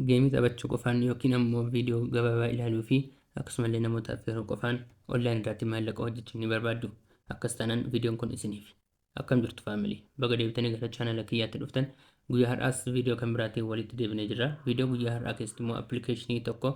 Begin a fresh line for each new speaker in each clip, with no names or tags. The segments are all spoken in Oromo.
Geemii taphachuu qofaan yookiin ammoo viidiyoo gabaabaa ilaaluu fi akkasumallee namoota affeeruu qofaan online irraatti maallaqa hojjechuu ni barbaaddu? Akkas taanaan viidiyoon kun isiniifi. Akkam jirtu family? Baga deebitanii gara channel kiyyaatti dhuftan. Guyyaa har'aas viidiyoo kan biraatiin walitti deebinee jirra. Viidiyoo guyyaa har'aa keessatti immoo appilikeeshinii tokko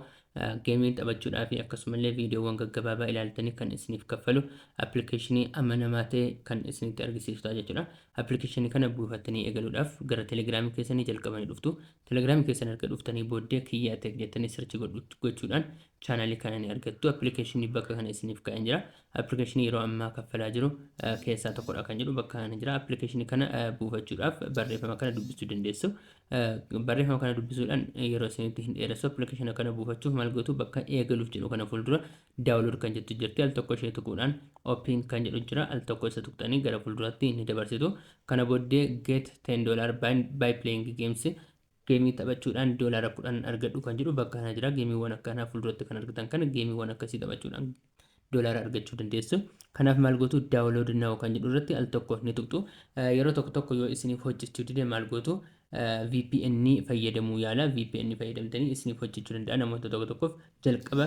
geemii taphachuudhaa fi akkasumallee viidiyoowwan gaggabaabaa ilaaltanii kan isiniif kaffalu appilikeeshinii amanamaa ta'e kan isinitti argisiisu ta'a jechuudha. Appilikeeshinii kana buufattanii eegaluudhaaf gara telegiraamii keessanii jalqabanii dhuftu. Telegram keessan erga dhuftanii booddee Kiyyaa Tech jettanii search godhu- gochuudhaan channel kana ni argattu. Application bakka kana isiniif kaa'een jira. Application yeroo ammaa kaffalaa jiru eh, keessaa tokkodha kan jedhu bakka kana jira. Application kana eh, buufachuudhaaf barreeffama kana dubbisuu dandeessu. Eh, Barreeffama kana dubbisuudhaan yeroo isinitti hin dheeressu. Application kana buufachuuf maal gootu bakka eegaluuf jedhu kana fuuldura Download kan jettu jirti al tokko ishee tuquudhaan open kan jedhu jira al tokko isa tuqxanii gara fuulduratti ni dabarsitu kana booddee get 10 dollar by, by playing games geemii taphachuudhaan doolaara kudhan argadhu kan jedhu bakka kana jira geemiiwwan akkanaa fuulduratti kan argitan kana geemiiwwan akkasii taphachuudhaan doolaara argachuu dandeessu kanaaf maal gootu download now kan jedhu irratti al tokko ni tuqxu yeroo tokko tokko yoo isiniif hojjechuu dide maal gootu vpn fayyadamuu yaalaa vpn fayyadamtanii isiniif hojjechuu danda'a namoota tokko tokkoof jalqaba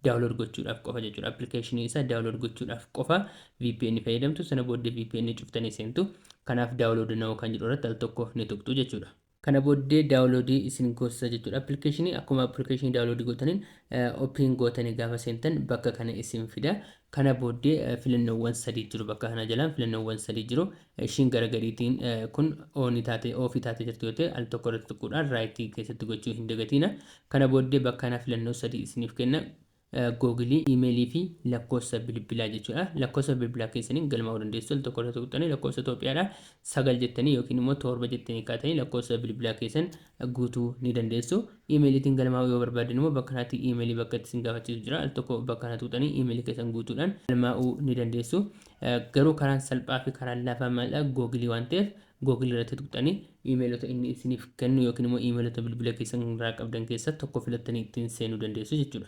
daawulood gochuudhaaf qofa jechuudha appilikeeshinii isaa daawulood gochuudhaaf qofa vpn fayyadamtu sana booddee vpn cuftanii seentu kanaaf daawulood na'oo kan jedhu irratti al tokko ni tuqxu jechuudha. Kana booddee daawuloodii isin goosisa jechuudha appilikeeshinii akkuma appilikeeshinii daawuloodii gootaniin opiin gootanii gaafa seentan bakka kana isin fida kana booddee filannoowwan sadii jiru bakka kana jalaan filannoowwan sadii jiru Ishiin gara gadiitiin kun on taatee off taatee jirti yoo ta'e al tokko irratti tuquudhaan right keessatti gochuu hin dagatiina. Kana booddee bakka kanaa filannoo sadii isiniif kenna. Google, email fi lakkoofsa bilbilaa jechuudha. Lakkoofsa bilbilaa keessaniin galmaa'uu dandeessu. Al tokko irratti tuqxanii lakkoofsa Itoophiyaadhaa sagal jettanii yookiin immoo torba jettanii kaatanii lakkoofsa bilbilaa keessan guutuu ni dandeessu. Emailiitiin galmaa'uu yoo barbaaddan immoo bakka kanatti emailii bakka itti isin gaafachiisu jira. Al tokko bakka kana tuqxanii emailii keessan guutuudhaan galmaa'uu ni dandeessu. Garuu karaan salphaa fi karaan laafaa maalidha? Google waan ta'eef Google irratti tuqxanii iimeelota inni isiniif kennu yookiin immoo iimeelota bilbila keessan irraa qabdan keessaa tokko filattanii ittiin seenuu dandeessu jechuudha.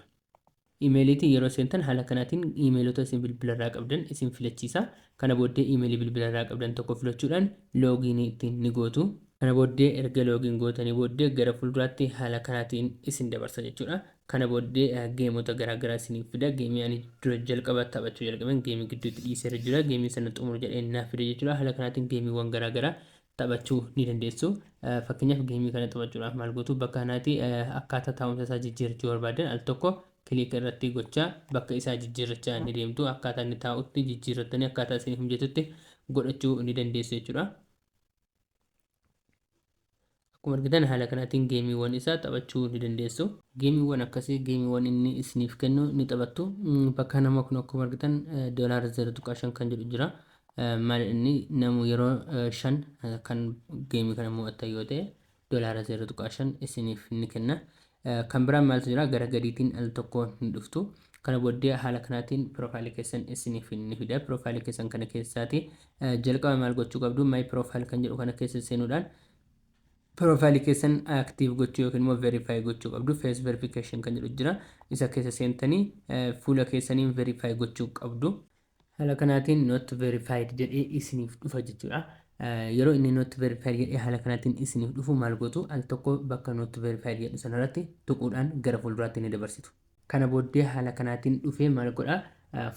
Iimeeliitiin yeroo seentan haala kanaatiin iimeelota isin bilbila irraa qabdan isin filachiisa. Kana booddee iimeelii bilbila irraa qabdan tokko filachuudhaan loogiinii ittiin ni gootu. Kana booddee erga loogiin gootanii booddee gara fuulduraatti haala kanaatiin isin dabarsa jechuudha. Kana booddee geemota garaa garaa isiniif fida. Geemii ani dura jalqaba taphachuu jalqabeen geemii gidduutti dhiiseera jira. Geemii sana xumuru jedheen naaf fide jechuudha. Haala kanaatiin geemiiwwan garaa garaa taphachuu ni dandeessu. Fakkeenyaaf geemii kana taphachuudhaaf maal gootu bakka kanaati akkaataa taa'umsa isaa jijjiirrachuu barbaaddan al tokko kiliika irratti gochaa bakka isaa jijjiirrachaa ni deemtu. Akkaataa inni taa'utti jijjiirrattanii akkaataa isiniif mijatutti godhachuu ni dandeessu jechuudha. Akkuma argitan haala kanaatiin geemiiwwan isaa taphachuu ni dandeessu. Geemiiwwan akkasii geemiiwwan inni isiniif kennu ni taphattu. Bakka kana immoo kun akkuma argitan doolaara 0.5 kan jedhu jira. Maal inni namu yeroo 5 kan geemii kana mo'attan yoo ta'e doolaara 0.5 isiniif ni kenna. Kan biraan maaltu jira gara gadiitiin al tokko ni dhuftu. Kana booddee haala kanaatiin profile keessan isiniif ni fida. Profile keessan kana keessaati jalqaba maal gochuu qabdu my profile kan jedhu kana keessa seenuudhaan profile keessan active gochuu yookiin immoo verify gochuu qabdu. Face verification kan jedhu jira. Isa keessa seentanii fuula keessaniin verify gochuu qabdu. Haala kanaatiin not verified jedhee isiniif dhufa jechuudha. Yeroo inni not verified jedhee haala kanaatiin isiniif dhufu maal gootu al tokko bakka not verified jedhu sanarratti tuquudhaan gara fuulduraatti ni dabarsitu. Kana booddee haala kanaatiin dhufee maal godha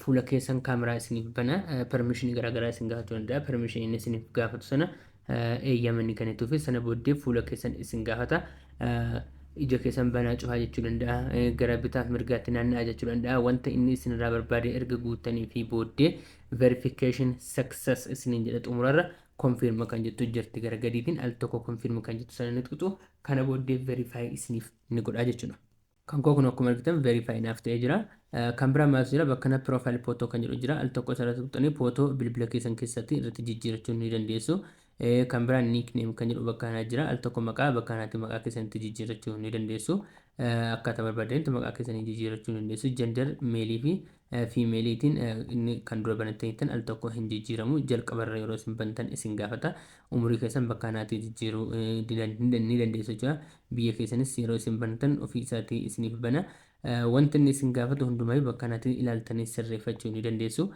fuula keessan kaameraa isiniif bana permission garaagaraa isin gaafachuu danda'a permission inni isiniif gaafatu sana eeyyama ni kennituufi sana booddee fuula keessan isin gaafata. Ija keessan banaa cufaa jechuu danda'a. Gara bitaaf mirgaatti naanna'a jechuu danda'a. Wanta inni isinirraa barbaade erga guuttanii fi booddee verification success isiniin jedha xumurarra confirm kan jettu jirti gara gadiitiin al tokko confirm kan jettu sana ni tuqxu kana booddee verify isiniif ni godha jechuudha. Kan koo kunoo akkuma argitan verify naaf ta'ee jira. Kan biraa maaltu jira bakka kana profile photo kan jedhu jira al tokko isa irratti tuqxanii photo bilbila keessan keessatti irratti jijjiirachuu ni dandeessu. Kan biraa nickname kan jedhu bakka kanaa jira al tokko maqaa bakka kanaatti maqaa keessan itti jijjiirachuu ni dandeessu. Akkaataa barbaadanitti maqaa keessanii jijjiirachuu ni dandeessu. Gender male fi female tiin inni kan dura banattaniittan al tokko hin jijjiiramu jalqaba irra yeroo isin bantan isin gaafata umurii keessan bakka kanaatii jijjiiruu ni dandeessu jechuudha biyya keessanis yeroo isin bantan ofii isaatii isiniif bana wanti inni isin gaafatu hundumaayyu bakka kanaatii ilaaltanii sirreeffachuu ni dandeessu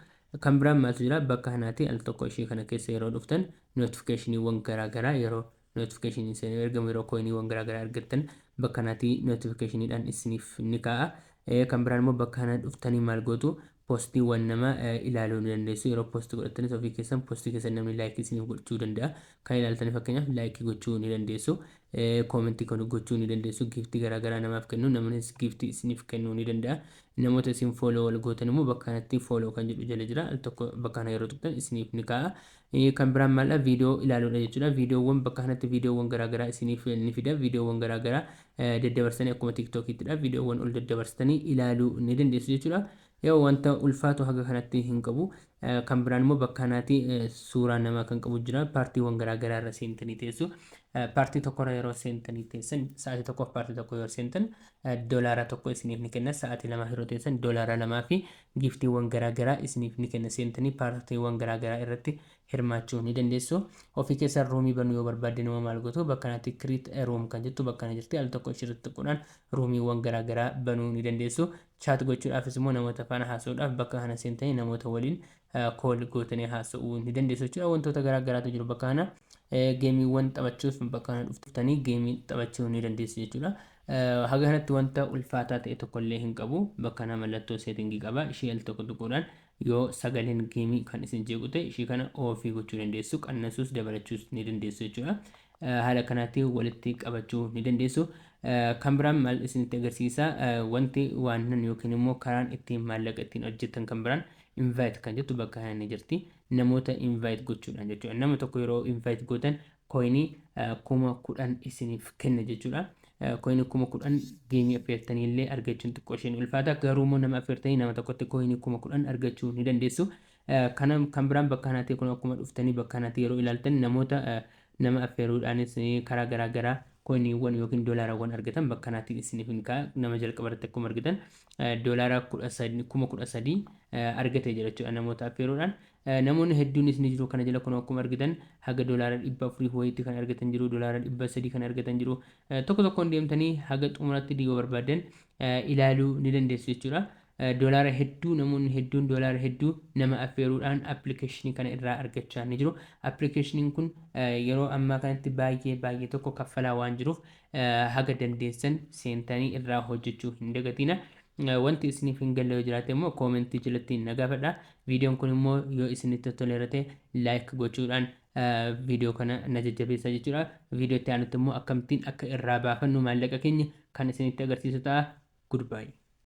kan biraan maaltu jira bakka kanaatii al tokko ishee kana keessa yeroo dhuftan notifikashiniiwwan garaa garaa yeroo Notification isin hin ergamu yeroo koyiniiwwan garaa garaa argattan bakka kanaati notification dhaan isiniif ni kaa'a. Kan biraan immoo bakka kana dhuftanii maal gootu postiiwwan nama ilaaluu ni dandeessu. Yeroo posti godhattanis ofii keessan postii keessan namni laayikii isiniif gochuu danda'a. Kan ilaaltanii fakkeenyaaf laayikii gochuu ni dandeessu. Koomentii gochuu ni dandeessu. Giiftii garaa garaa namaaf kennu namnis giiftii isiniif kennuu ni danda'a. Namoota isin fooloo wal gootan immoo bakka kanatti fooloo kan jedhu jala jira. Al tokko bakka kana yeroo tuqxan isiniif ni kaa'a. Eeyyee kan biraan maal dha viidiyoo ilaaluu dha jechuu dha. Viidiyoowwan bakka kanatti viidiyoowwan garaa garaa isiniif ni fida. Viidiyoowwan garaa garaa daddabarsitanii akkuma tiiktookiitti dha viidiyoowwan ol daddabarsitanii ilaaluu ni dandeessu jechuu dha. Yoo wanta ulfaatu haga kanatti hin qabu. Kan biraan immoo bakka kanaati suuraa namaa kan qabu jira. Paartiiwwan garaa garaa irra seentanii teessu. Paartii tokko irra yeroo seentanii teessan sa'aatii tokkoof paartii tokko yoo seentan dolaara tokko isiniif ni kenna. Sa'aatii lamaaf yeroo teessan dolaara lamaa fi Giiftiiwwan garaa garaa isiniif ni kenna. Seentanii paartiiwwan garaa garaa irratti hirmaachuu ni dandeessu. Ofii keessan ruumii banuu yoo barbaaddan immoo maal gootu? Bakka kanatti create a room kan jettu bakka kana jirti. Al tokko ishii irratti tuquudhaan ruumiiwwan garaa garaa banuu ni dandeessu. Chat gochuudhaafis immoo namoota faana haasa'uudhaaf bakka kana seentanii namoota waliin call gootanii haasa'uu ni dandeessu jechuudha. Wantoota garaa garaatu jiru bakka kana. Geemiiwwan taphachuuf bakka kana dhuftanii geemii taphachuu ni dandeessu jechuudha. Haga kanatti wanta ulfaataa ta'e tokko illee hin qabu. Bakka kanaa mallattoo setting qaba. Ishii al tokko tuquudhaan yoo sagaleen game kan isin jeequ ta'e ishii kana off gochuu dandeessu. Qannasuus dabalachuus ni dandeessu jechuudha. Haala kanaatiin walitti qabachuu ni dandeessu. Kan biraan maal isinitti agarsiisa? Wanti waannan yookiin immoo karaan ittiin maallaqa ittiin hojjettan kan biraan invite kan jettu bakka kana ni jirti. Namoota invite gochuudhaan jechuudha. Nama tokko yeroo invite gootan Koyinii 10,000 isiniif kenna jechuudha. Koyinii 10,000 geemii affeertanii illee argachuun xiqqoo ishee ni ulfaata. Garuu immoo nama affeertanii nama tokkotti koyinii 10,000 argachuu ni dandeessu. Kana kan biraan bakka kanatti kun akkuma dhuftanii bakka kanatti yeroo ilaaltan namoota nama affeeruudhaanis karaa garaa garaa koyiniiwwan yookiin doolaarawwan argatan bakka kanaatiin isiniif hin ka'a. Nama jalqaba irratti akkuma argitan doolaara 13 kuma 13 argate jira jechuudha namoota affeeruudhaan. Namoonni hedduunis ni jiru kana jala kunoo akkuma argitan haga dolaara 400 wayiitti kan argatan jiru dolaara 300 kan argatan jiru tokko tokkoon deemtanii haga xumuratti digo barbaaddan ilaaluu ni dandeessu jechuudha dolaara hedduu namoonni hedduun dolaara hedduu nama affeeruudhaan appilikeeshinii kana irraa argachaa ni jiru appilikeeshiniin kun yeroo ammaa kanatti baay'ee baay'ee tokko kaffalaa waan jiruuf haga dandeessan seentanii irraa hojjechuu hin dagatiina wanti isiniif hin galle yoo jiraate immoo koomentii jalatti na gaafadha Viidiyoon kun immoo yoo isinitti tottoleera ta'e like gochuudhaan viidiyoo kana na jajjabeessaa jechuudha. Viidiyoo itti aanutti immoo akkamittiin akka irraa baafannu maallaqa keenya kan isinitti agarsiisu ta'a. Goodbye.